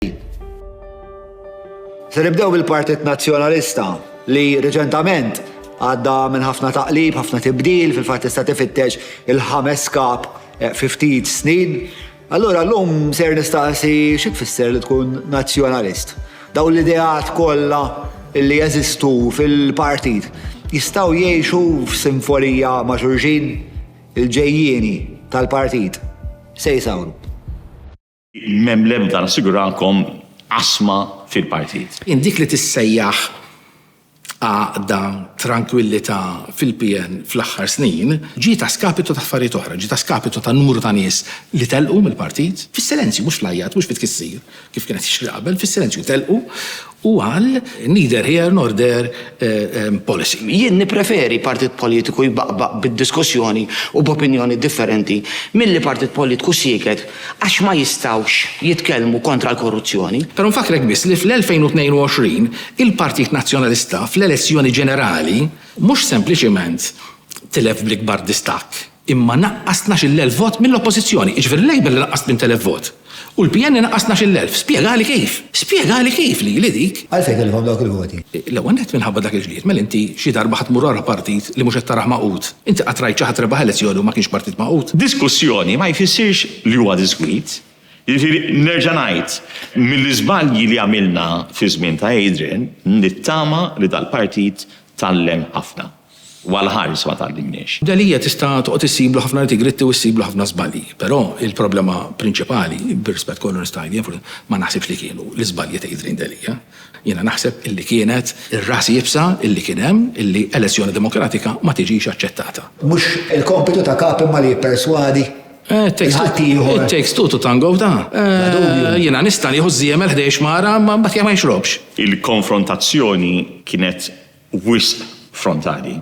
ġdid. Se nibdew bil-Partit Nazzjonalista li reċentament għadda minn ħafna taqlib, ħafna tibdil, fil-fatt tista' tifittex il-ħames kap eh, fi ftit snin. Allura llum ser nistaqsi xi tfisser li tkun nazzjonalist. Daw l-ideat kollha li jeżistu fil-partit jistgħu jgħixu f'simfonija ma' xulxin il-ġejjieni tal-partit se jsawru. M'hemm l-ebda, nassigurakom, qasma fil-partit. Jien dik li tissejjaħ għaqda, trankwillità fil-PN fl-aħħar snin ġiet a skapitu ta' affarijiet oħra, ġiet a skapitu ta' numru ta' nies li telqu mill-partit, fis-silenzju, mhux fl-għajjat, mhux fit-tkissir, kif kien qed jiġri qabel, fis-silenzju telqu Hu qal, Neither here nor there policy. Jien nippreferi partit politiku jbaqbaq bid-diskussjoni u b'opinjoni differenti milli partit politiku sieket għax ma jistgħux jitkellmu kontra l-korruzzjoni. Però nfakkrek biss li fl-2022 il-Partit Nazzjonalista fl-elezzjoni ġenerali mhux sempliċement tilef bl-ikbar distakk, imma naqqas tnax il-elf vot mill-Oppożizzjoni, jiġifieri l-Labour li naqqas tmint elef vot, u l-PN li naqqas tnax il-elf. Spjegali kif! Spjegali kif lili dik! Għalfejn tellifhom dawk il-voti? L-ewwel nett minħabba dak il-ġlied, mela inti xi darba ħa tmur wara partit li mhux qed tarah magħqud? Inti qatt rajt xi ħadd rebaħ elezzjoni u ma kienx partit magħqud? Diskussjoni ma jfissirx li huwa diskwit. Jiġifieri nerġa' ngħid, mill-iżbalji li għamilna fiż-żmien ta' Adrian, nittama li dal-partit tgħallem ħafna. u għall-ħajs ma tgħallimniex. Delia tista' toqgħod issiblu ħafna nitty-gritty u ssiblu ħafna żbalji, però il-problema prinċipali, bir-rispett kollu nista' ngħid jien, ma naħsibx li kienu l-iżbalji ta' Adrian Delia. Jiena naħseb illi kienet ir-ras iebsa illi kien hemm illi elezzjoni demokratika ma tiġix aċċettata. Mhux il-kompitu ta' kap imma li jipperswadi lil ħaddieħor. It takes two to tango f'da. Jiena nista' nieħu ż-żiemel ħdejx mara imma mbagħad hija ma jixrobx. Il-konfrontazzjoni kienet wisq frontali.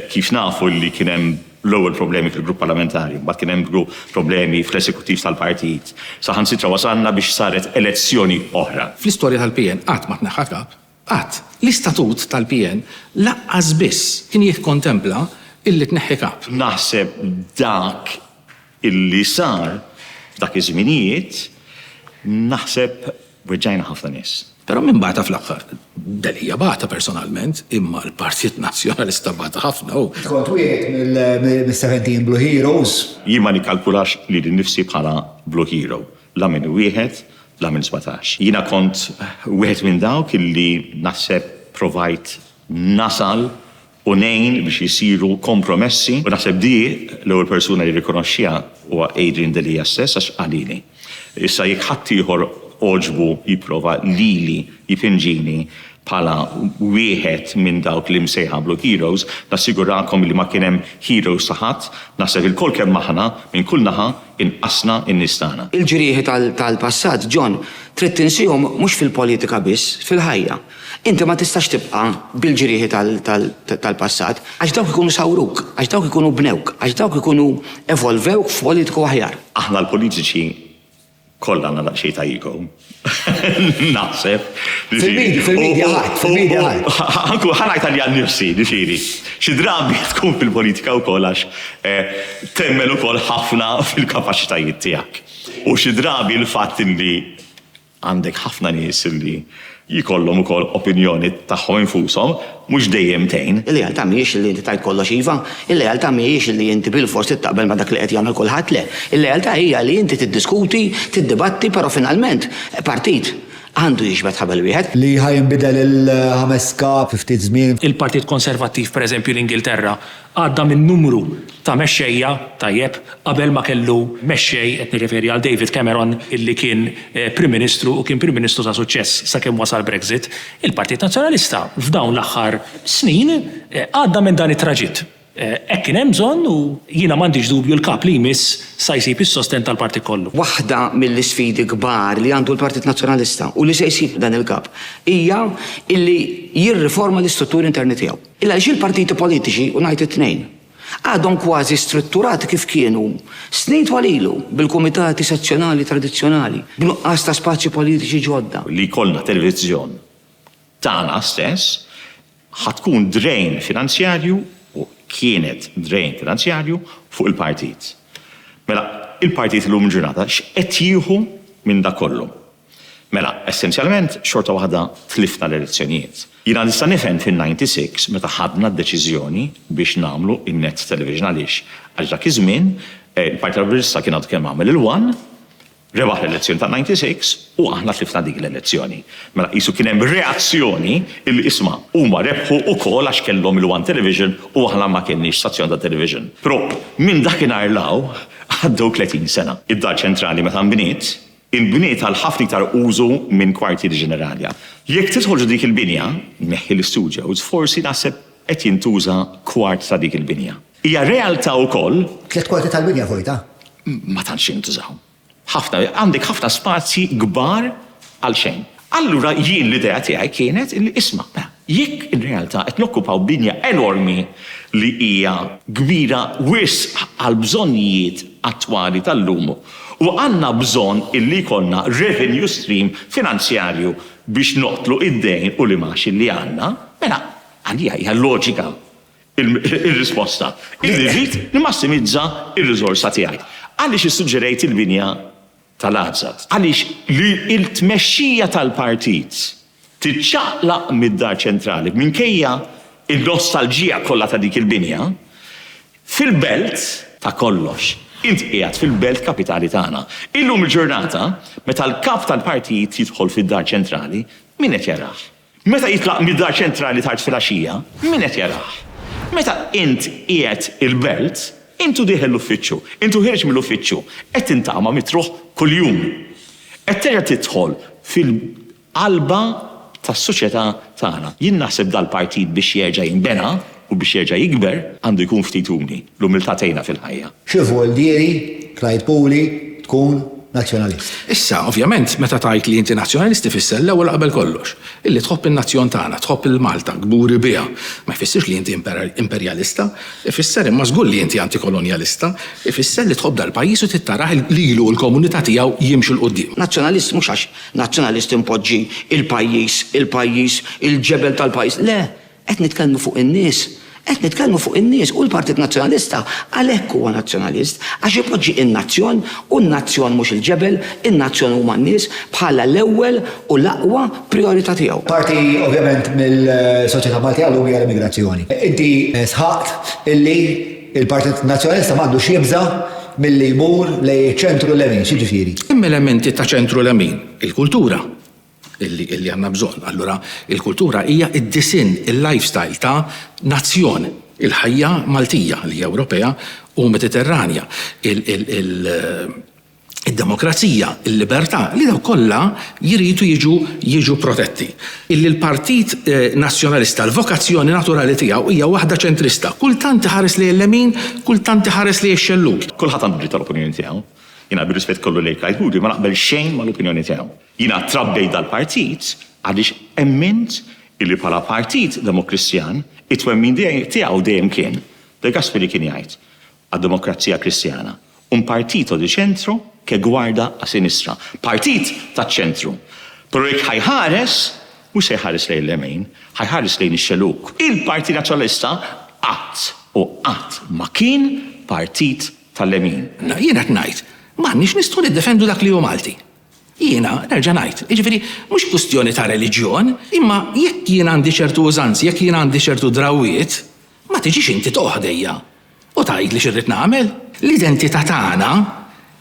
Kif nafu li kien hemm l-ewwel problemi fil-grupp parlamentari, mbagħad kien hemm problemi fl-esekuttiv tal-partit, saħansitra wasalna biex saret elezzjoni oħra. Fl-istorja tal-PN qatt ma tneħħa kap, qatt. L-istatut tal-PN lanqas biss kien jikkontempla illi tneħħi kap. Naħseb dak illi sar f'dak iż-żminijiet, naħseb weġġajna ħafna nies. Però min bata fl-aħħar? Delia bata personalment, imma l-Partit Nazzjonalista bata ħafna u. Int kont wieħed mis-seventeen Blue Heroes? Jien ma nikkalkulax lili nnifsi bħala Blue Hero, la minn wieħed, la minn sbatax. Jiena kont wieħed minn dawk illi naħseb provajt nasal u ngħin biex isiru kompromessi u naħseb di l-ewwel persuna li jirrikonoxxiha huwa Adrian Delia stess għax qalili. Issa jekk ħaddieħor għoġbu jipprova lili jipinġini bħala wieħed minn dawk li msejħa Blue Heroes, nassigurakom illi ma kien hemm heroes ta' ħadd, naħseb ilkoll kemm aħna, minn kull naħa, inqasna n-nies tagħna. Il-ġrieħi tal-passat, John, trid tinsihom mhux fil-politika biss, fil-ħajja. Inti ma tistax tibqa' bil-ġrieħi tal-passat, għax dawk ikunu sawruk, għax dawk ikunu bnewk, għax dawk ikunu evolvewk f'politiku aħjar. Aħna l-politiċi kollha għandna daqsxejn ta' ego, naħseb, ġifieri. Fil-midja ħadd, fil-midja ħadd. Anku ħa ngħid għalija nnifsi, ġifieri, xi drabi tkun fil-politika wkoll għax temmen ukoll ħafna fil-kapaċitajiet tiegħek. U xi drabi l-fatt li Għandek ħafna nies li jkollhom ukoll opinjoni tagħhom infushom, mhux dejjem tgħin. Il-lealtà mhijiex li inti tgħid kollox iva. Il-lealtà mhijiex li inti bilfors trid taqbel ma' dak li qed jagħmel kulħadd, le. Il-lealtà hija li inti tiddiskuti, tiddibatti, però finalment partit għandu jiġbed ħabel wieħed. Li ħa jinbidel il-ħames kap fi ftit żmien. Il-Partit Konservattiv, pereżempju l-Ingilterra, Għadda minn numru ta' mexxejja, tajjeb, qabel ma kellu mexxej, qed nirreferi għal David Cameron, illi kien Prim Ministru u kien Prim Ministru ta' suċċess sakemm wasal Brexit. Il-Partit Nazzjonalista f'dawn l-aħħar snin għadda minn dan it-traġitt. Hekk kien hemm bżonn u jiena m'għandix dubju l-Kap li jmiss sa jsib is-sostenn tal-Partit kollu. Waħda mill-isfidi kbar li għandu l-Partit Nazzjonalista u li se jsib dan il-Kap hija illi jirriforma l-istrutturi interni tiegħu. Ilha xi l-partiti politiċi, u ngħid it-tnejn, għadhom kważi strutturati kif kienu snin twal ilu, bil-kumitati sezzjonali tradizzjonali, b'nuqqas ta' spazji politiċi ġodda. Li jkollna televiżjon tagħna stess ħa tkun drain finanzjarju, u kienet drain finanzjarju, fuq il-partit. Mela, il-partit illum il-ġurnata x'qed jieħu minn dak kollu? Mela, essenzjalment, xorta waħda tlifna l-elezzjonijiet. Jiena nista' nifhem fin-ninety six meta ħadna d-deċiżjoni biex nagħmlu n-net television għaliex għax dak iż-żmien il-Partit Laburista kien għadu kemm għamel il-one, rebaħ l-elezzjoni tan-ninety six u aħna tlifna dik l-elezzjoni. Mela qisu kien hemm reazzjoni illi isma' huma rebħu ukoll għax kellhom il-one television u aħna ma kenniex stazzjon ta' television. Però minn dakinhar 'l hawn għaddew tletin sena. Id-Dar Ċentrali meta nbniet, Il-bini tal-ħafna iktar użu minn kwartieri ġenerali. Jekk tidħol ġo dik il-binja, neħħi l-istudjows, forsi naħseb qed jintuża kwart ta' dik il-binja. Hija realtà wkoll. Tliet kwarti tal-binja vojta? Ma tantx jintużaw. Ħafna, għandek ħafna spazji kbar għalxejn. Allura jien l-idea tiegħi kienet illi isma', mela, jekk ir-realtà qed nokkupaw binja enormi li hija kbira wisq għall-bżonnijiet attwali tal-lum u għandna bżonn illi jkollna revenue stream finanzjarju biex noqtlu id-dejn u l-imgħax illi għandna, mela għalija hija loġika r-risposta illi rrid nimmassimizza r-riżorsa tiegħi. Għaliex issuġġerejt il-binja tal-għażżat. Għaliex li l-tmexxija tal-partit tiċċaqlaq mid-Dar Ċentrali, minkejja n-nostalġija kollha ta' dik il-binja, fil-belt, ta' kollox, int qiegħed fil-belt kapitali tagħna. Illum il-ġurnata, meta l-Kap tal-Partit jidħol fid-Dar Ċentrali, min qed jarah? Meta jitlaq mid-dar ċentrali tard filgħaxija, min qed jarah? Meta int qiegħed il-belt, int u dieħel l-uffiċċju, int u ħierġ mill-uffiċċju, qed tintama min truħ kuljum. Qed terġa' tidħol fil-qalba tas-soċjetà tagħna. Jien naħseb dal-partit biex jerġa' jinbena, U biex jerġa' jikber, għandu jkun ftit umli. L-umiltà tgħinna fil-ħajja. Xi vvuoldieri, Clyde Puli, tkun Nazzjonalist? Issa, ovvjament, meta tgħid li inti Nazzjonalist ifisser, l-ewwel u qabel kollox, illi tħobb in-nazzjon tagħna, tħobb lil Malta, kburi biha. Ma jfissirx li inti imperjalista. Ifisser, imma żgur li inti antikolonjalista, ifisser li tħobb dal-pajjiż u trid tarah lilu u l-komunità tiegħu jimxu 'l quddiem. Nazzjonalist mhux għax Nazzjonalist inpoġġi l-pajjiż, il-pajjiż, il-ġebel tal-pajjiż. Le! Qed nitkellmu fuq in-nies. Qed nitkellmu fuq in-nies u l-Partit Nazzjonalista għalhekk huwa Nazzjonalist, għax ipoġġi n-nazzjon u n-nazzjon mhux il-ġebel, in-nazzjon huma n-nies, bħala l-ewwel u l-aqwa prijorità tiegħu. Parti ovvjament mill-soċjetà Maltija llum hija l-immigrazzjoni. Inti sħaqt illi l-Partit Nazzjonalista ma għandux jibża' milli jmur lejn iċ-ċentru-lemin. X'jiġifieri? Hemm elementi ta' ċentru-lemin, il-kultura, illi għandna bżonn. Allura il-kultura hija d-disinn, il-lifestyle ta' nazzjon, il-ħajja Maltija li hija Ewropea u Mediterranja, id-demokrazija, il-libertà, li dawk kollha jridu jiġu jiġu protetti. Illi l-Partit Nazzjonalista l-vokazzjoni naturali tiegħu hija waħda ċentrista. Kultant iħares lejn il-lemin, kultant iħares lejn ix-xellug. Kulħadd għandu dritt tal-opinjoni tiegħu. Jiena bir-rispett kollu lejk Kajhudi ma naqbel xejn mal-opinjoni tiegħu. Jiena trabbejt dal-partit għaliex emmint illi bħala partit Demokristjan, it-twemmin tiegħu dejjem kien, De Gasperi kien jgħid għad-Demokrazija Kristjana, un partito di centro che guarda a sinistra, partit taċ-ċentru, però jekk ħa jħares, mhux se jħares lejn l-għemejn, ħa jħares lejn ix-xelug. Il-Partit Nazzjonalista qatt u qatt ma kien partit tal-lemin. Jiena qed ngħid, m'għandniex nistgħu niddefendu dak li hu Malti. Jiena, nerġa' ngħid, jiġifieri mhux kwistjoni ta' reliġjon, imma jekk jien għandi ċertu użanzi, jekk jien għandi ċertu drawwiet, ma tiġix inti toqgħod ħdejja u tgħidli x'irrid nagħmel. L-identità tagħna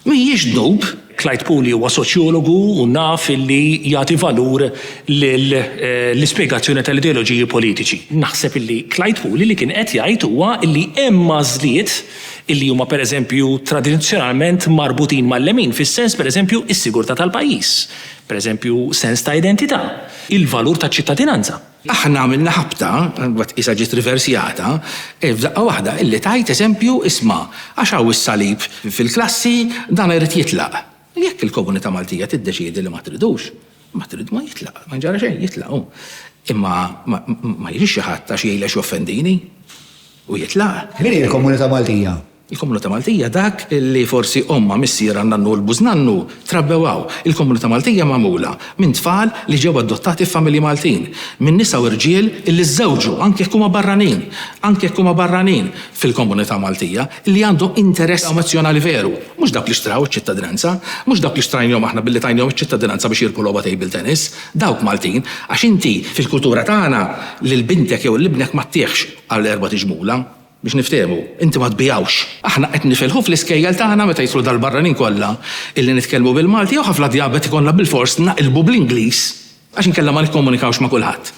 mhijiex dnub. Clyde Puli huwa soċjologu u naf li jagħti valur lill-ispjegazzjoni tal-ideoloġiji politiċi. Naħseb li Clyde Puli li kien qed jgħid huwa li hemm għażliet li huma pereżempju tradizzjonalment marbutin mal-lemin fis-sens pereżempju is-sigurtà tal-pajjiż, pereżempju sens ta' identità, il-valur ta' ċittadinanza. Aħna għamilna ħabta, imbagħad qisha ġiet riversjata, f'daqqa waħda, illi tgħid eżempju isma' għax hawn is-salib fil-klassi, dan irid jitlaq. U jekk il-komunità Maltija tiddeċiedi li ma tridux, ma trid ma jitlaq, ma jġara xejn, jitlaq hu. Imma ma jiġix xi ħadd għax jgħidli għax joffendini u jitlaq. Min hi l-komunità Maltija? Il-komunità Maltija dak li forsi ommha, missierha, nannu u l-bużnannu trabbew hawn. Il-komunità Maltija magħmula minn tfal li ġew adottati f'familji Maltin, minn nisa u rġiel li żżewġu anke jekk huma barranin, anke jekk huma barranin fil-komunità Maltija. li għandhom interess nazzjonali veru, mhux dawk li xtraw iċ-ċittadinanza, mhux dawk li xtrajnihom aħna billi tajnihom iċ-ċittadinanza biex jirbħu logħba table tennis, dawk Maltin, għax inti fil-kultura tagħna lil bintek jew lil ibnek ma ttiehx għal erbat iġmula, biex niftehmu, inti ma tbigħux. Aħna qed nifilħu fl-iskejjel tagħna meta jidħlu dal-barranin kollha illi nitkellmu bil-Malti jew ħafna djabet ikollna bilfors naqilbu bl-Ingliż għax inkella ma nikkomunikawx ma' kulħadd.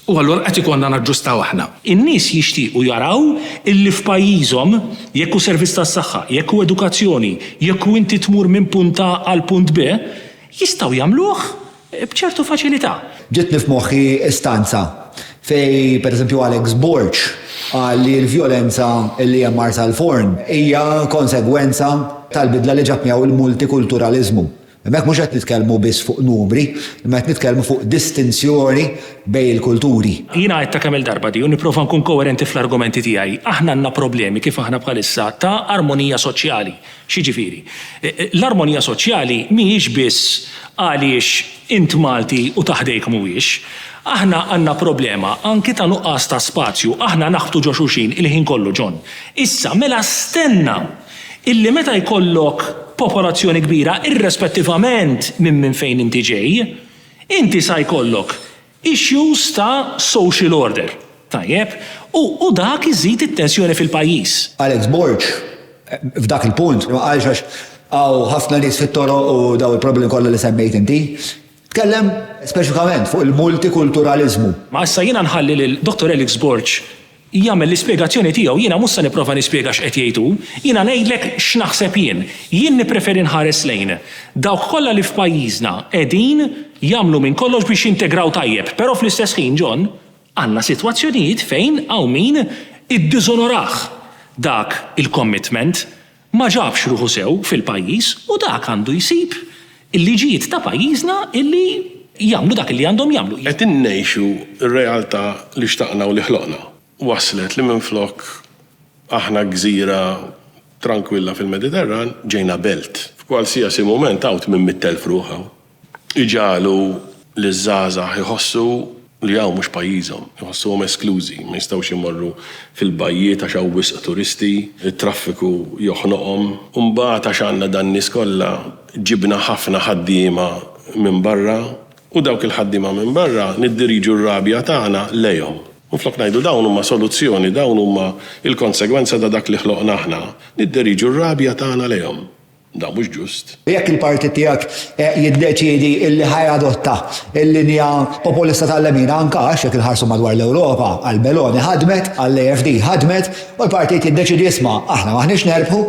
U allura qed ikollna naġġustaw aħna. In-nies jixtiequ jaraw illi f'pajjiżhom, jekk hu servizz tas-saħħa, jekk hu edukazzjoni, jekk hu inti tmur minn punt A għal punt B, jistgħu jagħmluh b'ċertu faċilità. Ġietni f'moħħi stanza fejn pereżempju Alex Borg qal li l-vjolenza li hemm Marsalforn hija konsegwenza tal-bidla li ġab miegħu l-multikulturaliżmu. Hemmhekk mhux qed nitkellmu biss fuq numri, imma qed nitkellmu fuq distinzjoni bejn il-kulturi. Jiena għidtha kemm-il darba di u nipprova nkun koerenti fl-argumenti tiegħi. Aħna għandna problemi kif aħna bħalissa ta' armonija soċjali. X'jiġifieri? L-armonija soċjali mhijiex biss għaliex int Malti u ta' ħdejk mhuwiex. Aħna għandna problema anki ta' nuqqas ta' spazju. Aħna naħbtu ġo xulxin il-ħin kollu, John. Issa, mela stenna! illi meta jkollok popolazzjoni kbira, irrespettivament minn minn fejn inti ġej, inti sa jkollok issues ta' social order, tajjeb, u u dak iżid it-tensjoni fil-pajjiż. Alex Borg f'dak il-punt, ma qalx għax hawn ħafna nies fit-toroq u dawn il-problemi kollha li semmejt inti, tkellem speċifikament fuq il-multikulturaliżmu. Ma issa jiena nħalli lil Dottor Alex Borg jagħmel l-ispjegazzjoni tiegħu, jiena mhux se nipprova nispjega x'qed jgħid hu, jiena ngħidlek x'naħseb jien. Jien nippreferi nħares lejn dawk kollha li f'pajjiżna qegħdin jagħmlu minn kollox biex jintegraw tajjeb, però fl-istess ħin, John, għandna sitwazzjonijiet fejn hawn min iddiżonorah dak il-commitment. Ma ġabx ruħu sew fil-pajjiż u dak għandu jsib il-liġijiet ta' pajjiżna illi jagħmlu dak illi għandhom jagħmlu. Qed ngħixu r-realtà li xtaqna u li ħloqna. Wasslet li minflok aħna gżira trankwilla fil-Mediterran, ġejna belt. F'kwalsiasi mument għawt minn mitt elf ruħ hawn. Iġagħlu liż-żgħażagħ iħossu li hawn mhux pajjiżhom, iħossuhom esklużi, ma jistgħux imorru fil-bajjiet għax hawn wisq turisti, it-traffiku joħnoqhom. U mbagħad għax għandna dan-nies kollha, ġibna ħafna ħaddiema minn barra u dawk il-ħaddiema minn barra niddiriġu r-rabja tagħna lejhom. Minflok ngħidu dawn huma soluzzjoni, dawn huma l-konsegwenza ta' dak li ħloqna aħna, niddiriġu r-rabja tagħna lejhom. Dan mhux ġust. Jekk il-partit tiegħek jiddeċiedi li ħa jadotta l-linja populista tal-lemin, anke għax jekk inħarsu madwar l-Ewropa, għal Meloni ħadmet, għall-AfD ħadmet, u l-partit jiddeċiedi isma', aħna m'aħniex nerbħu,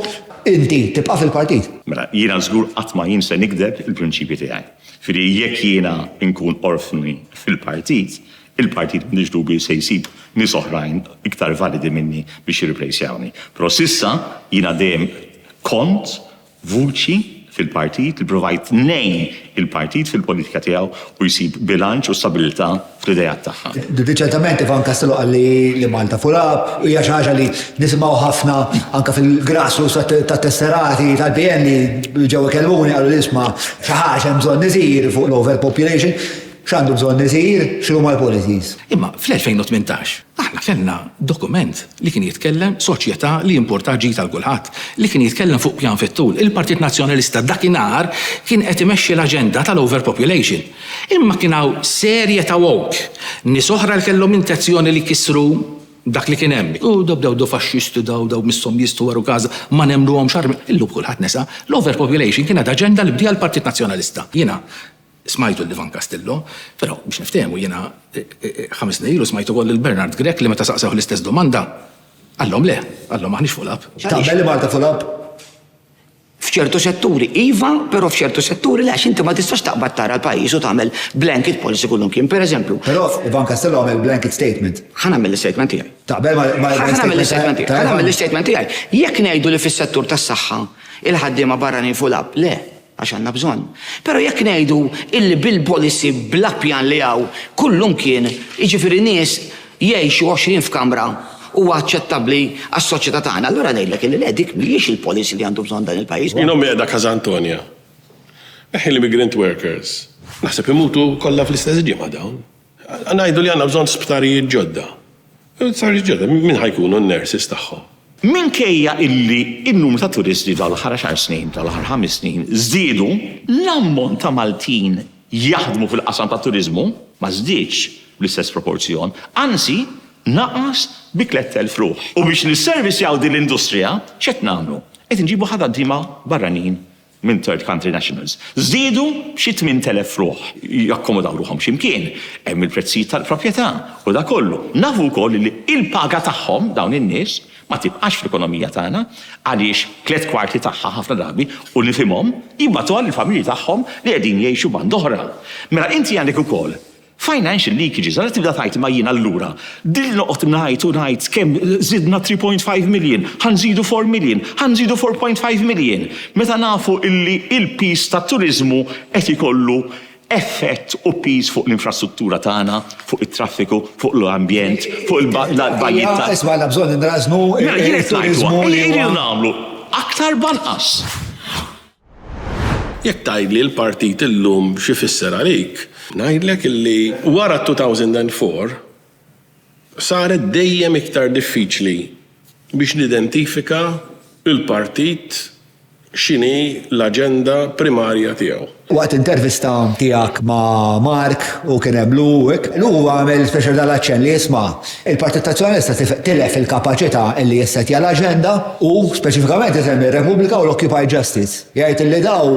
inti tibqa' fil-partit. Mela, jiena żgur qatt ma jien se nigdeb il-prinċipji tiegħi. Jiġifieri jekk jiena nkun orfni fil-partit, Il-partit m'għandux dubji se jsib nies oħrajn iktar validi minni biex jirriplejsjawni. Però s'issa jiena dejjem kont vuċi fil-partit li provajt ngħin il-partit fil-politika tiegħu u jsib bilanċ u stabilità fl-ideat tagħha. Riċentament Ivan Castello qal li Malta full up u hija xi ħaġa li nisimgħu ħafna anke fil-grassroots tat-tesserati tal-PN li ġew ikellmuni qalu li isma' xi ħaġa hemm bżonn isir fuq l-overpopulation. X'għandu bżonn isir, x'inhuma l-policies. Imma fl-2018 aħna kellna dokument li kien jitkellem, soċjetà li jimpurtha ġid għal kulħadd, li kien jitkellem fuq pjan fit-tul. Il-Partit Nazzjonalista dakinhar kien qed imexxi l-aġenda tal-overpopulation. Imma kien hawn serje ta' woke, nies oħra li kellhom intenzjoni li jkissru dak li kien hemm. U daw bdew daw faxxisti daw, daw misshom jistħu waru każa, ma nemmnuhomx. Illum kulħadd nesa. L-overpopulation kienet aġenda li bdiha l-Partit Nazzjonalista. Jiena Smajtu lil Ivan Castillo, però biex niftehmu jiena ħames snin ilu smajt ukoll lil Bernard Grech li meta saqsewh l-istess domanda qalhom le, qalhom m'aħniex full up. Taqbel li Malta full up? F'ċertu setturi iva, però f'ċertu setturi le għax inti ma tistax taqbad tara l-pajjiż u tagħmel blanket policy kullimkien. Pereżempju. Però Ivan Castillo għamel blanket statement. Ħa nagħmel l-istatement tiegħi. Taqbel ma' l-istatement tiegħek? Ħa nagħmel l-istatement tiegħi. Ħa nagħmel l-istatement tiegħi. Jekk ngħidu li fis-settur tas-saħħa l-ħaddiema barranin full up, le. Għax għandna bżonn. Però jekk ngħidu illi bil-policy bla pjan li hawn kullum kien, jiġifieri nies jgħixu għoxrin f'kamra huwa aċċettabbli għas-soċjetà tagħna, allura ngħidlek illi le dik mhijiex il-policy li għandu bżonn dan il-pajjiż. Jien ommi qiegħda Casa Antonia. Eħħi l-immigrant workers. Naħseb imutu kollha fl-istess ġimgħa dawn. Ngħidu li għandna bżonn sptarijiet ġodda. Sptarijiet ġodda, min ħa jkunu n-nurses tagħhom? Minkejja illi n-numru ta' turisti f'dawn l-aħħar għaxar snin, f'dawn l-aħħar ħames snin, żdiedu, l-ammont ta' Maltin jaħdmu fil-qasam tat-turiżmu ma żdiedx bl-istess proporzjon, anzi naqas bi tlett elf ruħ. U biex nisservisjaw din l-industrija, x'qed nagħmlu? Qed inġibu ħadaddiema barranin minn third country nationals żdiedu b'xi 8,000 ruħ. Jakkomodaw ruħhom xi mkien, hemm il-prezzijiet tal-proprjetà u dak kollu. Nafu wkoll li l-paga tagħhom, dawn in-nies, ma tibqax fl-ekonomija tagħna għaliex tliet kwarti tagħha ħafna drabi, u nifhimhom, jibgħatuha lill-familji tagħhom li qegħdin jgħixu band'oħra. Mela inti għandek ukoll Financial leakages, ara tibda tgħid imma jien allura din noqgħod ngħid u ngħid kemm żidna 3.5 million, ħa nżidu 4 million, ħa nżidu 4.5 million, meta nafu illi il-piż tat-turiżmu qed ikollu effett u piż fuq l-infrastruttura tagħna, fuq it-traffiku, fuq l-ambjent, fuq il-bajjiet ta'. Isma' għandna bżonn inrażżnu t-turiżmu li huwa. Mela jien qed ngħidlu, ejja irridu nagħmlu aktar b'anqas. Jekk tgħidli l-partit illum x'ifisser għalik, ngħidlek li wara t-2004 saret dejjem iktar diffiċli biex nidentifika l-partit x'inhi l-aġenda primarja tiegħu. Waqt intervista tiegħek ma' Mark u kien hemm Luke, Luke għamel speċjalità l-aċċenn li jisma' Il-Partit Nazzjonalista tilef il-kapaċità li jissettja l-aġenda u speċifikament isemmi r-Repubblika u l-Occupy Justice. Jgħid illi daw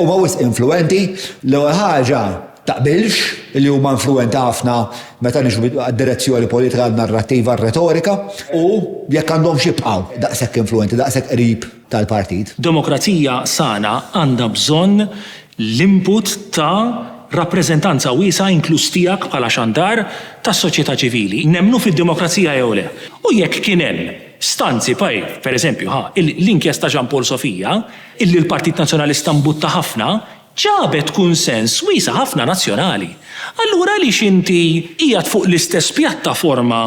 huma wisq influwenti, l-ewwel ħaġa taqbilx li huma influwenti ħafna meta niġu għad-direzzjoni politika, għan-narrattiva, r-retorika u jekk għandhomx jibqgħu daqshekk influwenti, daqshekk qrib tal-Partit. Demokrazija sana għandha bżonn l-input ta' rappreżentanza wiesgħa inkluż tiegħek bħala xandar tas-soċjetà ċivili, nemmnu fid-demokrazija jew le. U jekk kien hemm stanzi bħal, pereżempju, ħa l-inkjesta Jean Paul Sofia, illi l-Partit Nazzjonalista mbutta ħafna, ġabet kunsens wiesa' ħafna nazzjonali. Allura għaliex inti qiegħed fuq l-istess pjattaforma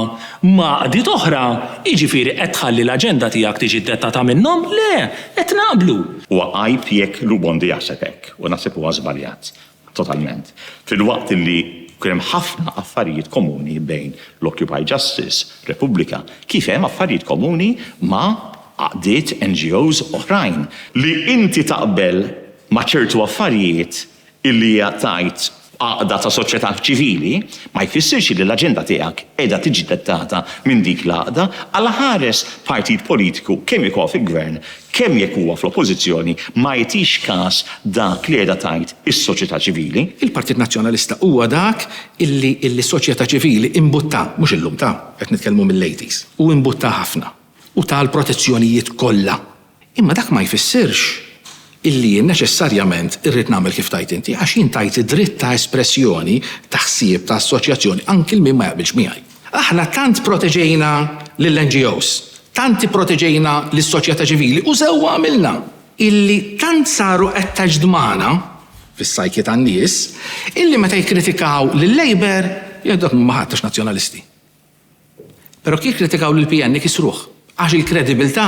ma' għaqdiet oħra, jiġifieri qed tħalli l-aġenda tiegħek tiġi ddettata minnhom? Le, qed naqblu. Huwa għajb jekk Lubondi jaħseb hekk u naħseb huwa żbaljat totalment. Filwaqt li kien hemm ħafna affarijiet komuni bejn l-Occupy Justice, Repubblika, kif hemm affarijiet komuni ma' għaqdiet, NGOs, oħrajn. Li inti taqbel ma' ċertu affarijiet illi hija tgħid f'għaqda ta' soċjetà ċivili, ma jfissirx illi l-aġenda tiegħek qiegħda tiġi dettata minn dik l-għaqda. Alla ħares partit politiku kemm jekk huwa fil-Gvern, kemm jekk huwa fl-Oppożizzjoni ma jagħtix każ dak li qiegħda tgħid is-soċjetà ċivili. Il-Partit Nazzjonalista huwa dak illi illi s-soċjetà ċivili imbuttah, mhux illum ta' qed nitkellmu mill-80s, u imbuttah ħafna. u ta l-protezzjonijiet kollha. Imma dak ma jfissirx illi jien neċessarjament irrid nagħmel kif tgħid inti, għax jien tajt id-dritt ta' espressjoni, ta' ħsieb, ta' assoċjazzjoni anki 'l min ma jaqbilx miegħi. Aħna tant proteġejna lill-NGOs, tant ipproteġejna lis-soċjetà ċivili, u sewwa għamilna, illi tant saru attached magħna, fis-psyche tan-nies, illi meta jikkritikaw lil-Labour, jgħidu dak m'huma ħadd għax Nazzjonalisti. Però jikkritikaw lill-PN li kisruh għax il-kredibilità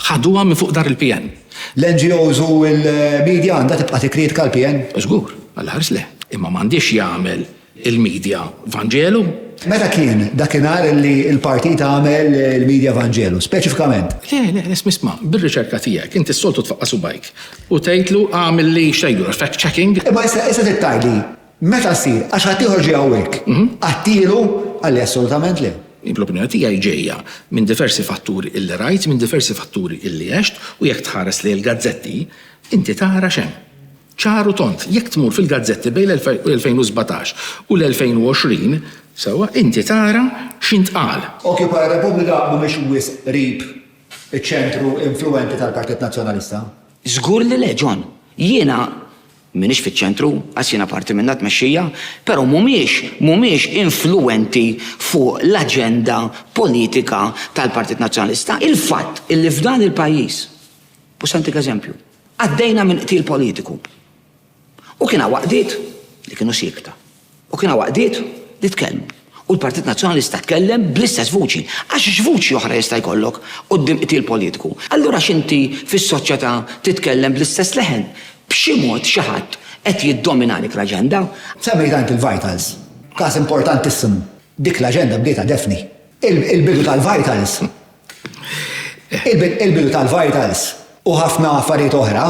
ħaduha minn fuq dar il-PN. L-NGOs u l-media għandha tibqa' tikkritika l-PN? Żgur, għall-aħħar le. Imma m'għandhiex jagħmel il-media vanġelu. Meta kien dakinhar li l-partit għamel il-media vanġelu, speċifikament? Le, le, le, isma', bir-riċerka tiegħek, inti s-soltu tfaqqa' subgħajk u tgħidlu għamilli, x'tgħidlu, fact-checking? Imma issa trid tgħidli Meta ssir, għax ħaddieħor ġie hawnhekk, qattielu? Qal li assolutament le. Din l-opinjoni tiegħi ġejja minn diversi fatturi illi rajt, minn diversi fatturi illi għext u jekk tħares lejn il-gazzetti inti tara x'hemm. Ċar u tond, jekk tmur fil-gazzetti bejn l-2017 u l-2020, sewwa, inti tara x'intqal. Occupy Repubblika mhumiex wisq qrib iċ-ċentru influwenti tal-Partit Nazzjonalista? Żgur li le, John. Jiena M'iniex fiċ-ċentru, qas jiena parti minnha t-tmexxija, però mhumiex mhumiex influwenti fuq l-aġenda politika tal-Partit Nazzjonalista. Il-fatt li f'dan il-pajjiż, u se ntik eżempju, għaddejna minn qtil politiku u kien hawn għaqdiet li kienu siekta. U kien hawn għaqdiet li tkellmu. U l-Partit Nazzjonalista tkellem bl-istess vuċi. Għax x'vuċi oħra jista' jkollok quddiem qtil politiku? Allura x'inti fis-soċjetà titkellem bl-istess leħen? B'xi mod xi ħadd qed jiddomina għalik l-aġenda. Semmejt anki l-Vitals. Każ importantissimu. Dik l-aġenda bdietha Daphne. Il-bidu tal-Vitals. Il-bidu tal-Vitals u ħafna affarijiet oħra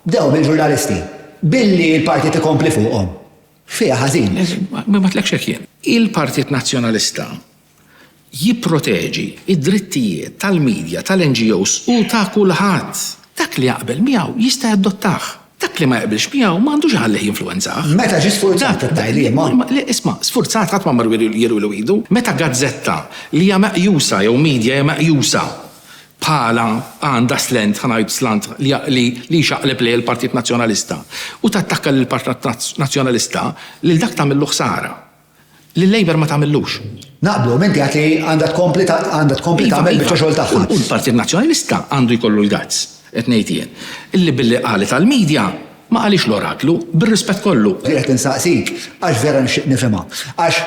bdew mill-ġurnalisti. Billi l-Partit ikompli fuqhom. Fiha ħażin. Ma għedtlekx hekk jien. Il-Partit Nazzjonalista jipproteġi d-drittijiet tal-media, tal-NGOs u ta' kulħadd. Dak li jaqbel miegħu jista' jadottah. Dak li ma jaqbilx miegħu ma għandux iħallih jinfluwenzah. Meta ġie sfurzat it-tgħajlima? Isma', sfurzat ħadd ma mar jirilu idu. Meta gazzetta li hija meqjusa jew media hija meqjusa bħala għandha slant, ħa ngħid slant, li jxaqleb lejn il-Partit Nazzjonalista u tattakka lill-Partit Nazzjonalista, lil dak tagħmillu ħsara. Lil-Labour ma tagħmillux. Naqblu, imma inti għedt li għandha tkompli tagħmel biċċa xogħol tagħha. U l-Partit Nazzjonalista għandu jkollu l-guts, qed ngħid jien, li billi qalet għall-media, ma qaliex l-oraklu, bir-rispett kollu. Qiegħed insaqsik għax vera nixtieq nifhimha. Għax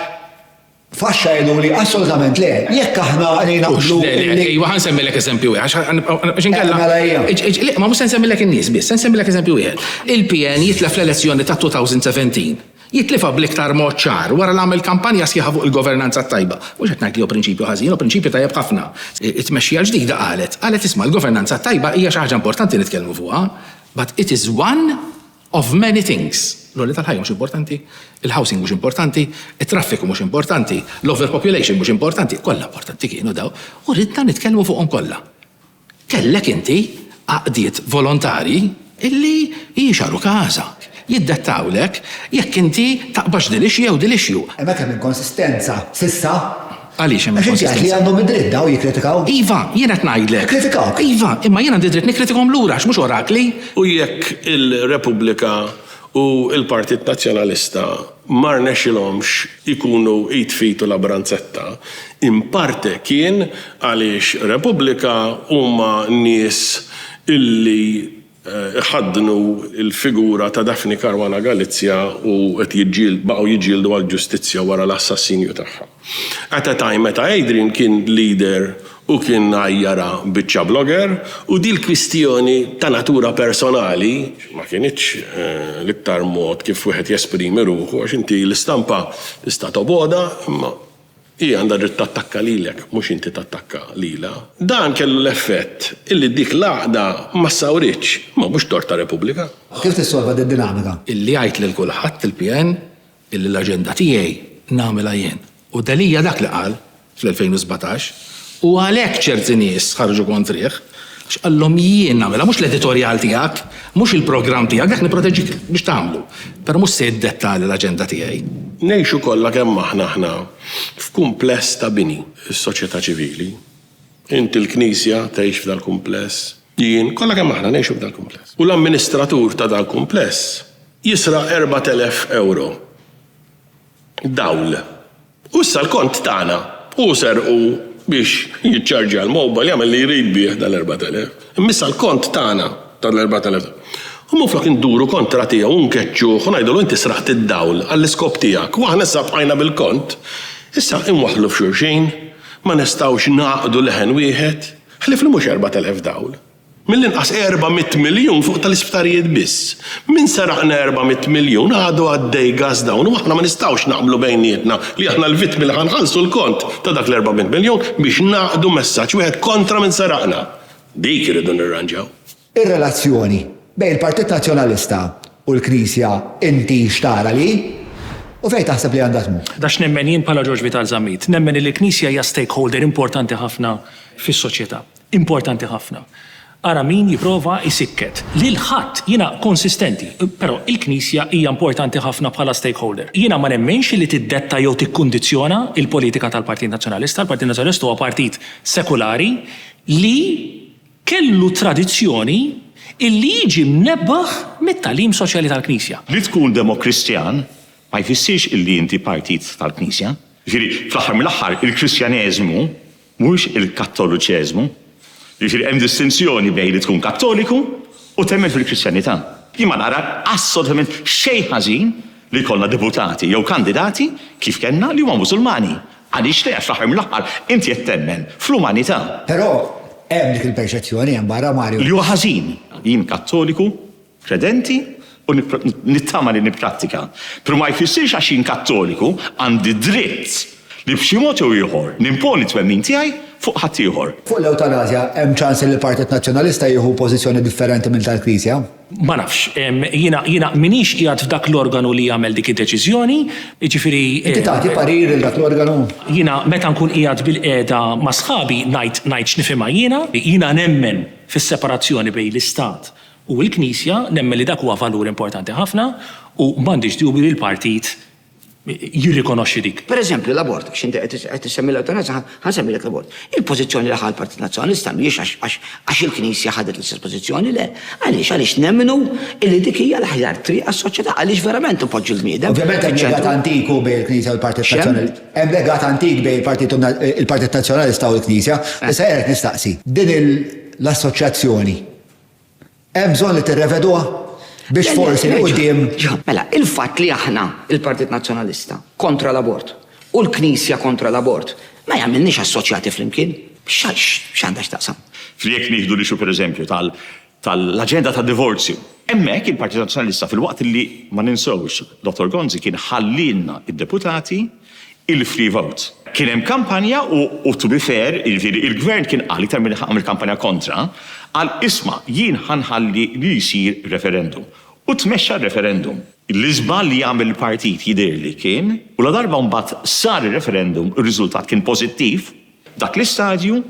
Faxxa jgħidu li assolutament le, jekk aħna li naqblu. Ejwa, ħan semmilek eżempju wieħed, għax inkella. Mela, mela, ma mhux se nsemmilek in-nies biss, se nsemmilek eżempju wieħed. Il-PN jitlef l-elezzjoni ta' 2017. Jitlifha bl-iktar mod ċar wara l-għamel kampanja sħiħa fuq il-governanza t-tajba. Mhux qed ngħid li hu prinċipju ħażin, hu prinċipju tajjeb ħafna. It-tmexxija l-ġdida qalet, qalet isma' l-governanza t-tajba hija xi ħaġa importanti nitkellmu fuqha, but it is one Of many things, l-għoli tal-ħajja mhux importanti, il-housing mhux importanti, it-traffiku mhux importanti, l-overpopulation mhux importanti, kollha importanti kienu dawn, u ridna nitkellmu fuqhom kollha. Kellek inti għaqdiet volontarji illi jixgħaru każak, jiddettawlek jekk inti taqbax dil-issue jew dil-issue. Hemm għad kemm inkonsistenza s'issa. Għaliex hemm il-konsistenza? Għax inti għedt li għandhom id-dritt dawn jikkritikaw. Iva, jien qed ngħidlek. Jikkritikawk. Iva, imma jien għandi dritt nikkritikahom lura għax mhux orakli. U jekk il-Repubblika u l-Partit Nazzjonalista ma rnexxilhomx ikunu id f'id u labranzetta, in parte kien għaliex Repubblika huma nies illi, iħaddnu l-figura ta' Daphne Caruana Galizia u qed jiġġieldu, baqgħu jiġġieldu għall-ġustizzja wara l-assassinju tagħha. At a time meta Adrian kien leader u kien għajjara biċċa blogger u din l-kwistjoni ta' natura personali ma kinitx l-iktar mod kif wieħed jesprimi ruħu għax inti l-istampa tista' tobgħodha imma Hi għandha dritt tattakka lilek, mhux inti tattakka lilha. Dan kellu l-effett illi dik l-għaqda ma ssawritx, imma mhux tort ta' Repubblika. Kif tissolva din id-dinamika? Illi jgħid lil kulħadd il-PN illi l-aġenda tiegħi nagħmilha jien. U Delia dak li qal fl-2017 u għalhekk ċerti nies ħarġu kontrih. Għax qallhom jien nagħmilha, mhux l-editorjal tiegħek, mhux il-programm tiegħek, dak nipproteġik biex tagħmlu, però mhux se jiddetta l-aġenda tiegħi. Ngħixu kollha kemm aħna aħna f'kumpless ta' bini, is-soċjetà ċivili, int il-Knisja tgħix f'dal-kumpless, jien, kollha kemm aħna ngħixu f'dal-kumpless. U l-amministratur ta' dal-kumpless jisraq erbat elef ewro. dawl. U issa l-kont tagħna. Hu serqu biex jiċċarġja l-mobile, jagħmel li jrid bih dal-4,000. Imma issa l-kont tagħna tal-4,000. U minflok induru kontra tiegħu u nkeċċuh u ngħidulu inti sraqt id-dawl għall-iskop tiegħek u aħna issa bqajna bil-kont, issa inwaħħlu f'xulxin, ma nistgħux ngħaqdu leħen wieħed, ħlief li mhux 4,000 dawl. Mill-inqas 400 miljun fuq tal-isptarijiet biss. Minn seraqna 400 miljun għadu għaddej gas dawn u aħna ma nistgħux naqblu bejnietna li aħna l-vittmi li ħa nħallsu l-kont ta' dak l-400 miljun biex ngħaqqdu messaġġ wieħed kontra min seraqna. Dik irridu nirranġaw. Ir-relazzjoni bejn il-Partit Nazzjonalista u l-Knisja inti x'tara li hi u fejn taħseb li għandha tmur? Dak x'nemmen jien bħala Ġorġ Vital Zammit. Nemmen li l-Knisja hija stakeholder importanti ħafna fis-soċjetà. Importanti ħafna. Ara min jipprova jsikket lil ħadd. Jiena konsistenti. Però il-Knisja hija importanti ħafna bħala stakeholder. Jiena ma nemminx li tiddetta jew tikkundizzjona l-politika tal-Partit Nazzjonalista. Il-Partit Nazzjonalista huwa partit sekulari li kellu tradizzjoni li jiġi mnebbaħ mit-tagħlim soċjali tal-Knisja. Li tkun demokristjan ma jfissirx li inti partit tal-Knisja. Jiġifieri, fl-aħħar mill-aħħar, il-Kristjaneżmu, Mhux il-Kattoluċeżmu. Jiġifieri hemm distinzjoni bejn li tkun Kattoliku u temmen fil-Kristjanità. Jien ma nara assolutament xejn ħażin li jkollna deputati jew kandidati, kif kellna, li huma Musulmani. Għaliex le, għax fl-aħħar mill-aħħar inti qed temmen fl-umanità. Però hemm dik il-perċezzjoni hemm barra, Mario. Li huwa ħażin. Jien Kattoliku. kredenti u nittama li nipprattika, pero ma jfissirx għax jien Kattoliku għandi dritt li b'xi mod jew ieħor nimponi t-twemmin tiegħi fuq ħaddieħor. Fuq l-ewtanasja, hemm ċans li l-Partit Nazzjonalista jieħu pożizzjoni differenti minn tal-Knisja? Ma nafx. Jiena m'iniex qiegħed f'dak l-organu li jagħmel dik id-deċiżjoni, jiġifieri. Inti tagħti parir lil dak l-organu? Jiena meta nkun qiegħed bilqiegħda ma' sħabi ngħid ngħid x'nifhimha jiena. Jiena nemmen fis-separazzjoni bejn l-Istat U l-Knisja, nemmen li dak huwa valur importanti ħafna u m'għandix dubju li l-Partit jirrikonoxxi dik. Per eżempju, l-abort, għax inti qed issemmi l-ewtanasja, ħa nsemmilek l-abort. Il-pożizzjoni li ħa l-Partit Nazzjonalista mhijiex għax il-Knisja ħadet l-istess pożizzjoni, le. Għaliex? Għaliex nemmnu li dik hija l-aħjar triq għas-soċjetà, għaliex verament inpoġġu l-bniedem fiċ-ċentru. Ovvjament hemm legat antik u bejn il-Knisja u l-Partit Nazzjonalista. X'hemm? Hemm legat antik bejn il-Partit Nazzjonalista u l-Knisja. Issa jien qed nistaqsi, din l-assoċjazzjoni Hemm bżonn li tirreveduha biex forsi 'l quddiem. Mela, il-fatt li aħna, il-Partit Nazzjonalista, kontra l-abort u l-Knisja kontra l-abort ma jagħmilniex assoċjati flimkien. X'għandha x'taqsam? Jekk nieħdu l-issue pereżempju tal-aġenda tad-divorzju, hemmhekk il-Partit Nazzjonalista filwaqt li, ma ninsewhx, Dottor Gonzi kien ħallielna d-deputati, il-free vote. Kien hemm kampanja u u to be fair, jiġifieri il-Gvern kien qal iktar milli ħa għamel kampanja kontra, qal isma' jien ħa nħalli li jsir referendum. U tmexxa r-referendum. L-iżball li għamel il-partit jidhirli kien, u ladarba mbagħad sar ir-referendum ir-riżultat kien pożittiv, f'dak l-istadju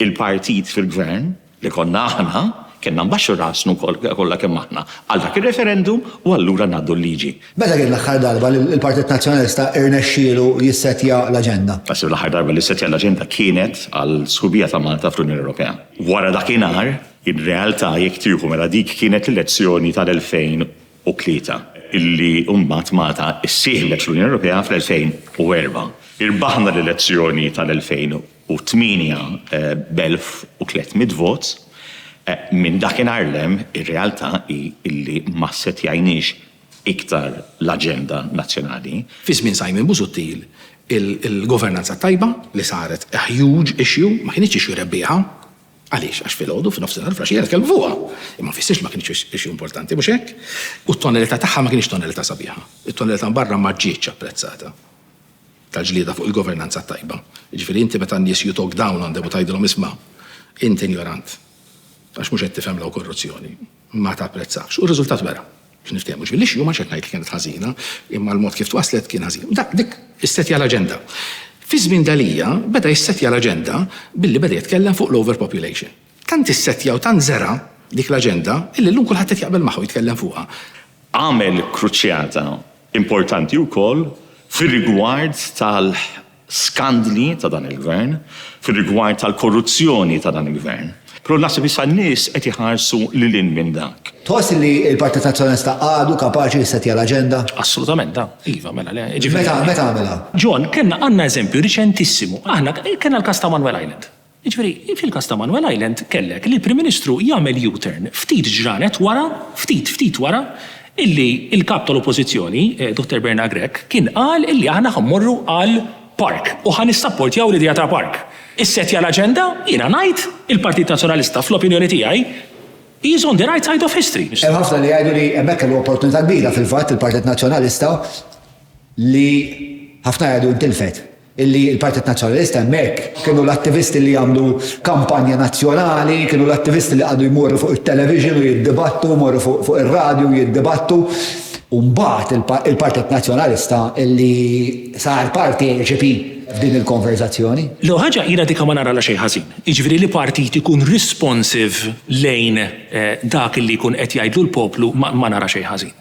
il-partit fil-Gvern, li konna aħna, kellna nbaxxu rasnu kollha kemm aħna għal dak ir-referendum u allura ngħaddu l-liġi. Meta kien l-aħħar darba li l-Partit Nazzjonalista rnexxielu jissettja l-aġenda? Naħseb li l-aħħar darba li ssettja l-aġenda kienet għall-sħubija ta' Malta fl-Unjoni Ewropea. Wara dakinhar, ir-realtà jekk tieħu mela dik kienet l-elezzjoni tal-2003, illi mbagħad Malta ssieħbet fl-Unjoni Ewropea fl-2004. Irbaħna l-elezzjoni tal-2003. u tmienja b'elf u tliet mitt vot, minn dakinhar 'l hemm ir-realtà hi illi ma ssetjajniex iktar l-aġenda nazzjonali. Fi żmien Simon Busuttil il-governanza t-tajba li saret a huge issue ma kinitx issue rebbieħa. Għaliex? Għax filgħodu, f'nofsinhar, f'laxija nitkellmu fuqha. Imma ma jfissirx li ma kinitx issue importanti, mhux hekk? U t-tonelità tagħha ma kinitx tonelità sabiħa. It-tonelità minn barra ma ġietx apprezzata. ta' ġlieda fuq il-governanza t-tajba. Jiġifieri inti meta n-nies you talk down on them u tgħidilhom isma' int injorant għax mhux qed tifhem law korruzzjoni ma tapprezzahx. U r-riżultat wera. Biex niftehmu. Ġifieri l-issue ma mhux qed ngħid li kienet ħażina imma l-mod kif twaslet kien ħażin. Dak dik issettja l-aġenda. Fi żmien Delia beda jissettja l-aġenda billi beda jitkellem fuq l-overpopulation. Tant issettja u tant żera' dik l-aġenda illi llum kulħadd qed jaqbel magħha u jitkellem fuqha. Għamel kruċjata importanti wkoll fir-rigward tal-skandli ta' dan il-Gvern, fir-rigward tal-korruzzjoni ta' dan il-Gvern. Però naħseb issa n-nies qed iħarsu lil hinn minn dak. Tħoss li l-Partit Azzjonista għadu kapaċi jissettja l-aġenda? Assolutament da. Iva, mela le. Meta għamilha? John, kellna, għandna eżempju riċentissimu. Aħna kellna l-każ ta' Manuel Island. Jiġifieri, fil-każ ta' Manwel Island kellek li l-Prim Ministru jagħmel U-turn ftit ġranet wara, ftit, ftit wara, illi l-Kap tal-Oppożizzjoni, Dottor Bernard Grech, kien qal illi aħna ħa mmorru għal park u ħa nissapportjaw l-idea ta' park. Issettja l-aġenda, jiena ngħid, il-Partit Nazzjonalista, fl-opinjoni tiegħi, he is on the right side of history. Hemm ħafna li jgħidu li hemmhekk kellu opportunità kbira fil-fatt il-Partit Nazzjonalista li ħafna jgħidu ntilfet. illi l-Partit Nazzjonalista hemmhekk kienu l-attivisti li jagħmlu kampanja nazzjonali, kienu l-attivisti li qagħdu jmorru fuq it-television u jiddibattu, jmorru fuq ir-radju u jiddibattu. U mbagħad il-Partit Nazzjonalista illi sar parteċipi f'din il-konverżazzjoni. L-ewwel ħaġa, jiena dik ma naralha xejn ħażin. Jiġifieri li partit ikun responsive lejn dak illi jkun qed jgħidlu l-poplu ma nara xejn ħażin.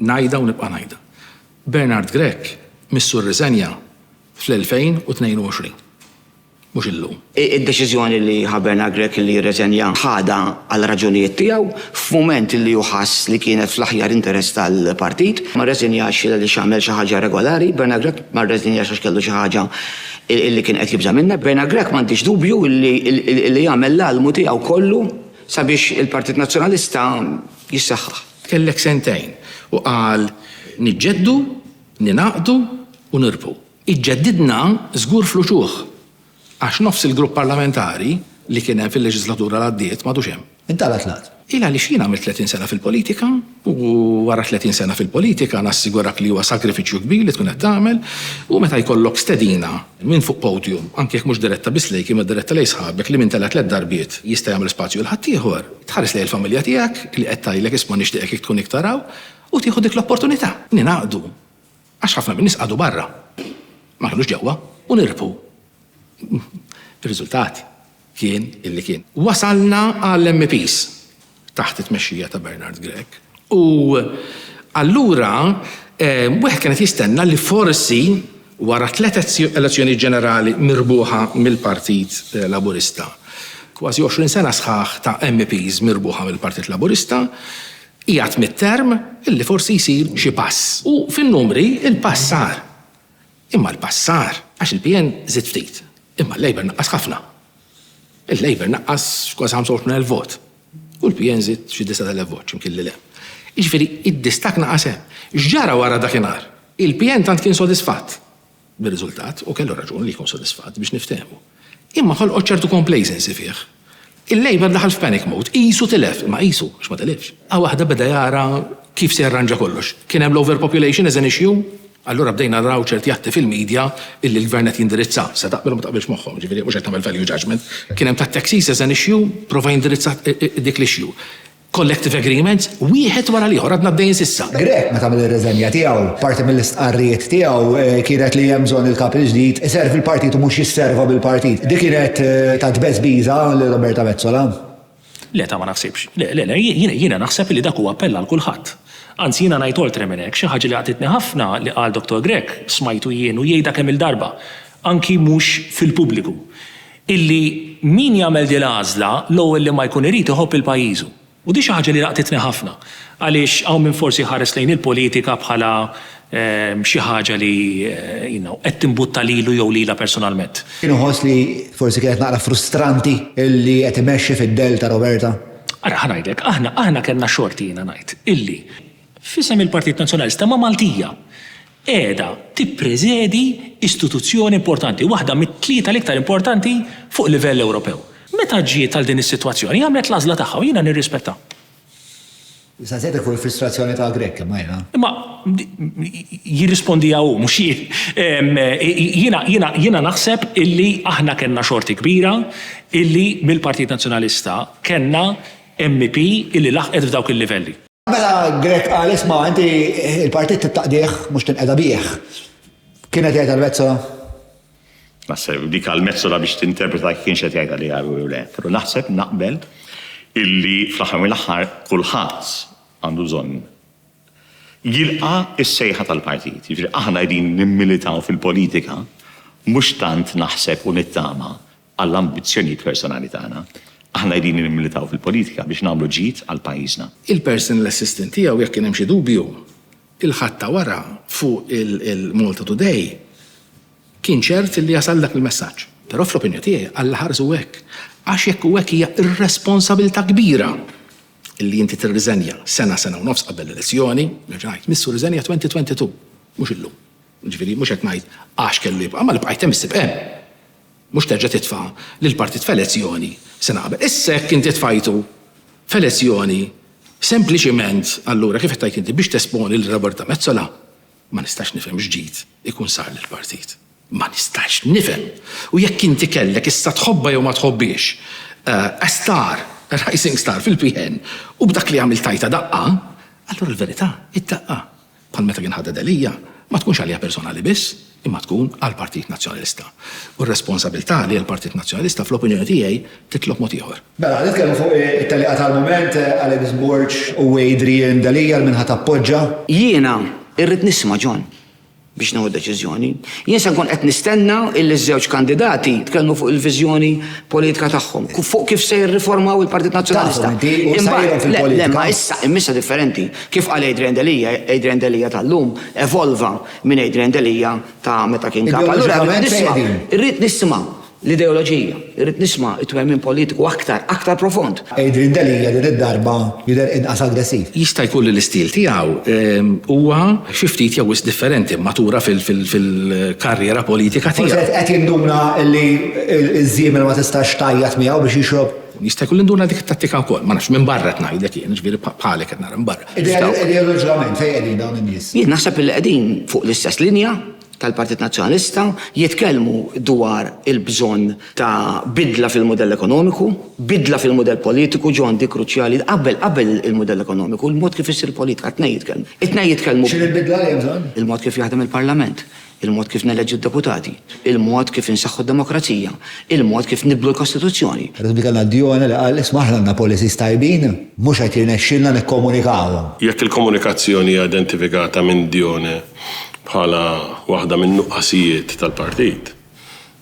Ngħidha u nibqa' ngħidha. Bernard Grech missu rriżenja fl-2022. Mhux illum. Id-deċiżjoni li ħa Bernard Grech li jirreżenja ħadha għal raġunijiet tiegħu, f'mument li hu ħass li kienet fl-aħjar interess tal-partit. Ma rreżenjax għaliex għamel xi ħaġa irregolari. Bernard Grech ma rreżenjax għax kellu xi ħaġa li kien qed jibża' minnha. Bernard Grech m'għandix dubju li jagħmel l-almu tiegħu kollu sabiex il-Partit Nazzjonalista jissaħħaħ. Kellek sentejn, u qal, Niġġeddu, ningħaqdu u nirbħu. Iġġeddidna żgur fl-uċuħ, għax nofs il-grupp parlamentari li kien hemm fil-leġislatura li għaddiet m'għadux hemm. Intalgħet l-għaqd. Hi għaliex jien għamilt 30 sena fil-politika, u wara 30 sena fil-politika nassigurak li huwa sagrifiċċju kbir li tkun qed tagħmel, u meta jkollok stedina, Min fuq podium, anki jekk mhux diretta biss lejk imma diretta lejn sħabek li min tela' tliet darbiet jista' jagħmel spazju għal ħaddieħor. Tħares lejn il-familja tiegħek li qed tgħidlek isma' nixtieqek kieku tkun iktar hawn u tieħu dik l-opportunità. Ningħaqdu għax ħafna min-nies qagħdu barra, ma kinux ġewwa u nirbħu. Ir-riżultat? kien li kien. Wasalna għall-MEPs taħt it-tmexxija ta' Bernard Grech u allura wieħed kien qed jistenna li forsi wara tliet elezzjonijiet ġenerali mirbuħa mill-Partit Laburista, kważi għoxrin sena sħaħ ta' MEPs mirbuħa mill-Partit Laburista, qiegħed mid-term, li forsi jsir xi pass. U fin-numri l-pass sar. Imma l-pass sar għax il-PN żied ftit, imma l-Labour naqqas ħafna. Il-Labour naqqas xi kważi 25,000 vot u l-PN żied xi 9,000 vot x'imkien 'l hemm. Jiġifieri d-distakk naqas hemm. X'ġara wara dakinhar? Il-PN tant kien sodisfatt bir-riżultat, u kellu raġun li jkun sodisfatt biex niftehmu. Imma ħolqot ċertu complacency fih. Il-Labour daħal f'panic mode. Qisu tilef, imma qisu, għax ma tilifx. Qa waħda beda jara kif se jarranġa kollox. Kien hemm l-overpopulation as an issue, allura bdejna naraw ċerti atti fil-media illi l-Gvern qed jindirizza. Se taqbel u ma taqbilx magħhom, jiġifieri mhux qed nagħmel value judgement. Kien hemm tat-taxis as an issue, prova jindirizza dik l-issue. Collective agreements, wieħed wara l-ieħor, għadna għaddejjin s'issa. Grech, meta għamel ir-riżenja tiegħu, parti mill-istqarrijiet tiegħu kienet li hemm bżonn il-Kap il-ġdid iservi l-Partit u mhux jisserva bil-Partit. Dik kienet ta' tbeżbiża lil Roberta Metsola? Le, ta' ma naħsibx. Le, le, le, jiena naħseb illi dak huwa appell għal kulħadd. Anzi, jiena ngħid oltre minn hekk, xi ħaġa li laqtitni ħafna li qal Dottor Grech, smajtu jien u jgħidha kemm-il darba, anki mhux fil-pubbliku, illi min jagħmel din l-għażla l-ewwel li ma jkun irid iħobb lil pajjiżu. U din xi ħaġa li laqtitni ħafna. Għaliex hawn min forsi jħares lejn il-politika bħala xi ħaġa li you know qed timbutta lilu jew lilha personalment. Jien iħoss li forsi kienet naqra frustranti illi qed imexxi fid-dell ta' Roberta. Ara, ħa ngħidlek, aħna, aħna kellna xorti jiena ngħid, illi f'isem il-Partit Nazzjonalista ma' Maltija. qiegħda tippreżedi istituzzjoni importanti, waħda mit-tlieta l-iktar importanti fuq livell Ewropew. Meta ġiet għal din is-sitwazzjoni, għamlet l-għażla tagħha u jiena nirrispettha. Issa żejt ikun il-frustrazzjoni ta' Grech, imma jiena. Imma jirrispondiha hu, mhux jien. Jiena, jiena, jiena naħseb illi aħna kellna xorti kbira illi mill-Partit Nazzjonalista kellna MEP illi laħqet f'dawk il-livelli. Mela Grek qal isma' inti il-partit tittaqdih mhux tinqeda bih. Kienet jgħid għal-Mezzola? Naħseb dik għal-Mezzola biex tinterpreta kienx qed jgħidha li għaru jew le. Però naħseb naqbel illi fl-aħħar mill-aħħar kulħadd għandu bżonn jilqa' s-sejħa tal-partit. Jiġifieri aħna qegħdin nimmilitaw fil-politika mhux tant naħseb u nittama għall-ambizzjonijiet personali tagħna. Aħna qegħdin nimmilitaw fil-politika biex nagħmlu ġid għal pajjiżna. Il-personal assistant tiegħu jekk kien hemm xi dubju, il-ħatta wara fuq il-Malta Today kien ċert li jasal dak il-messaġġ. Però fl-opinjoni tiegħi Alla ħarsu hekk, għax jekk hu hekk hija irresponsabilità kbira li inti tirriżenja sena, sena u nofs qabel l-elezzjoni, nerġa' ngħid, missu riżenja 2022, mhux illum. Jiġifieri mhux qed ngħid għax kellu jibqa' ma li bqajt hemm issib hemm. Mhux terġa' titfa' lill-partit f'elezzjoni, se naqbel. Issa jekk inti tfajtu f'elezzjoni sempliċiment, allura kif qed tgħid inti, biex tesponi lil Roberta Metsola, ma nistax nifhem x'ġid ikun sar lill-partit. Ma nistax nifhem! U jekk inti kellek, issa tħobbha jew ma tħobbhiex, a star, a rising star fil-PN u b'dak li għamilt tajtha daqqa, allura l-verità hi d-daqqa. bħal meta kien ħaded Elija, ma tkunx għalija personali biss, imma tkun għall-Partit Nazzjonalista. U r-responsabilità li l-Partit Nazzjonalista, fl-opinjoni tiegħi, titlob mod ieħor. Mela, ħa nitkellmu fuq it-tellieqa tal-mument, Alex Borg u Adrian Delia, għal min ħa tappoġġa. Jiena irrid nisma' John biex nieħu deċiżjoni. Jien se nkun qed nistenna illi ż-żewġ kandidati jitkellmu fuq il-viżjoni politika tagħhom, fuq kif se jirriformaw il-Partit Nazzjonalista. Tagħhom inti u sejrhom fil-politika. Le, le, ma issa, imma issa differenti. Kif qal Adrian Delia, Adrian Delia tal-lum evolva minn Adrian Delia ta' meta kien Kap. Allura rrid nisma', irrid nisma' l-ideoloġija, irrid nisma' t-twemmin politiku aktar, aktar profond. Adrian Delia din id-darba jidher inqas aggressiv. Jista' jkun li l-istil tiegħu huwa xi ftit jew wisq differenti, matura fil-karriera politika tiegħu. Forsi qed jinduna li ż-żiemel ma tistax tgħajjat miegħu biex jixrob. Jista' jkun li nduna dik it-tattika wkoll, ma nafx, minn barra qed ngħidlek jien, jiġifieri bħalek qed nara minn barra. Ideoloġikament fejn qegħdin dawn in-nies? Jien naħseb illi qegħdin fuq l-istess linja tal-Partit Nazzjonalista, jitkellmu dwar il-bżonn ta' bidla fil-mudell ekonomiku, bidla fil-mudell politiku, ġo għandi kruċjali, qabel qabel il-mudell ekonomiku, il-mod kif issir politika, t-tnejn jitkellmu. It-tnejn jitkellmu. X'inhi l-bidla li hemm bżonn? Il-mod kif jaħdem il-Parlament. il-mod kif neleġġu d-deputati, il-mod kif insaħħu d-demokrazija, il-mod kif nibdlu l-Kostituzzjoni. Għadhom dik l-Albione li qal, isma' aħna għandna policies tajbin, mhux qed jirnexxilna nikkomunikawhom. Jekk il-komunikazzjoni hija identifikata minn Dione bħala waħda min-nuqqasijiet tal-partit,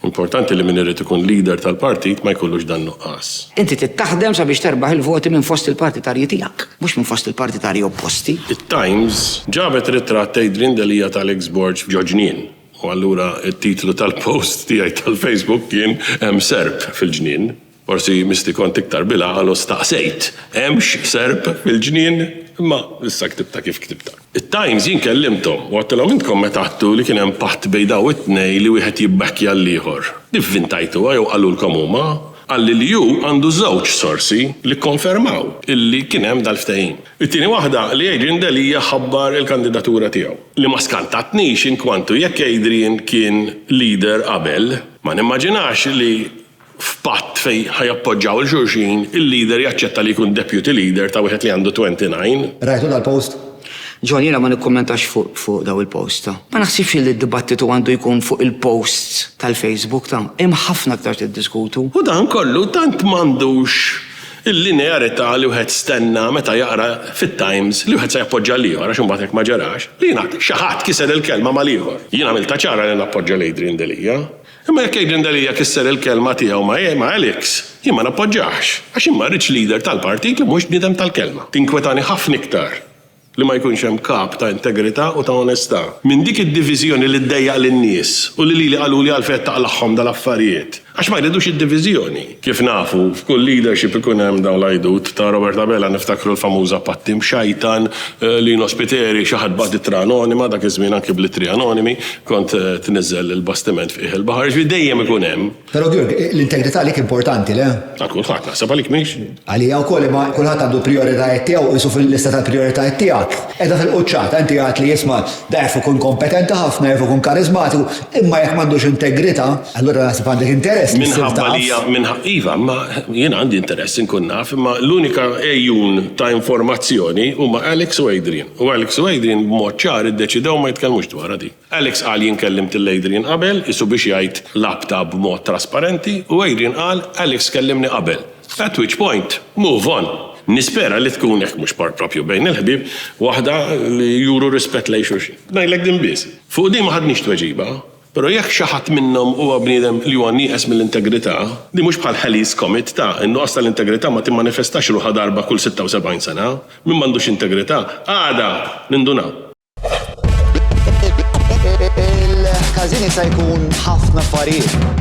Importanti li min irid ikun leader tal-partit ma jkollux dan nuqqas. Inti trid taħdem sabiex terbaħ il-voti minn fost il-partitarji tiegħek, mhux minn fost il-partitarji opposti. It-Times ġabet ritratt Adrian Delia tal-eks Borg f'Ġo Ġnien, u allura t-titlu tal-post tiegħi tal-Facebook kien Hemm Serp fil-Ġnien. Forsi misti kont iktar bil-għaqal u staqsejt, hemmx serp fil-ġnien? Imma issa ktibtha kif ktibtha. It-Times jien kellimthom u għattilhom intkom meta għadtu li kien hemm patt bejn dawn it-tnejn li wieħed jibbekkja l-ieħor. Ivvintajtuha jew qalulkom huma? Qalli li hu għandu żewġ sorsi li kkonfermaw illi kien hemm dal-ftehim. It-tieni waħda li Adrian Delia ħabbar il-kandidatura tiegħu. Li ma skantatnix inkwantu jekk Adrian kien leader qabel, ma nimmaġinax li F'patt fejn ħa jappoġġaw 'il xulxin, il-leader jaċċetta li jkun deputy leader ta' wieħed li għandu 29. Rajtu dal-post? John, jiena ma nikkummentax fuq dawn il-posts ta'. Ma naħsibx illi d-dibattitu għandu jkun fuq il-posts tal-Facebook ta'. Hemm ħafna aktar tiddiskutu. U dan kollu tant m'għandux il-linearità li wieħed stenna meta jaqra fit-Times li wieħed se jappoġġa l-ieħor għax imbagħad hekk ma ġarax, li jingħad xi ħadd kiser il-kelma mal-ieħor. Jien għamiltha ċara li nappoġġa 'l Adrian Delia. Imma jekk Adrian Delia kisser il-kelma tiegħu ma' Alex, jien ma nappoġġahx, għax jien ma rridx leader tal-partit li mhux bniedem tal-kelma. Tinkwetani ħafna iktar li ma jkunx hemm kap ta' integrità u ta' onestà minn dik id-diviżjoni li ddejjaq lin-nies u li lili qaluli għalfejn qed taqlagħhom dal-affarijiet, għax ma jridux id-diviżjoni. Kif nafu, f'kull leadership ikun hemm dawn l-għajdut. Ta' Robert Abela niftakru l-famuża Patti mxajtan, Lino Spiteri, xi ħadd bagħat ittra anonima, dak iż-żmien anki bl-ittri anonimi kont tniżżel il-bastiment f'qiegħ il-baħar, jiġifieri dejjem ikun hemm. Però Georg, l-integrità għalik importanti, le? Għal kulħadd, naħseb għalik mhix? Għalija wkoll, imma kulħadd għandu l-prijoritajiet tiegħu, qisu fil-lista tal-prijoritajiet tiegħek qiegħda fil-quċċata. Inti għidt li, isma', da jaf ikun kompetenti ħafna, jaf ikun kariżmatiku, imma jekk m'għandux integrità, Allura naħseb għandek interess li ssir taf. Minħabba li iva, imma jien għandi interess inkun naf, imma l-unika għejun ta' informazzjoni huma Alex u Adrian. U Alex u Adrian b'mod ċar iddeċidew ma jitkellmux dwarha din. Alex qal jien kellimt lil Adrian qabel, qisu biex jgħid l-għabta b'mod trasparenti, u Adrian qal Alex kellimni qabel. At which point, move on. Nispera li tkun, jekk mhux proprju bejn il-ħbieb, waħda li juru rispett lejn xulxin. Ngħidlek din biss. Fuq din ma ħadniex tweġiba. Però jekk xi ħadd minnhom huwa bniedem li huwa nieqes mill-integrità, din mhux bħal Halley's Comet, ta, in-nuqqas tal-integrità ma timmanifestax ruħha darba kull sitta u sebgħin sena. Min m'għandux integrità, għada nindunaw. Il-każin jista' jkun ħafna affarijiet.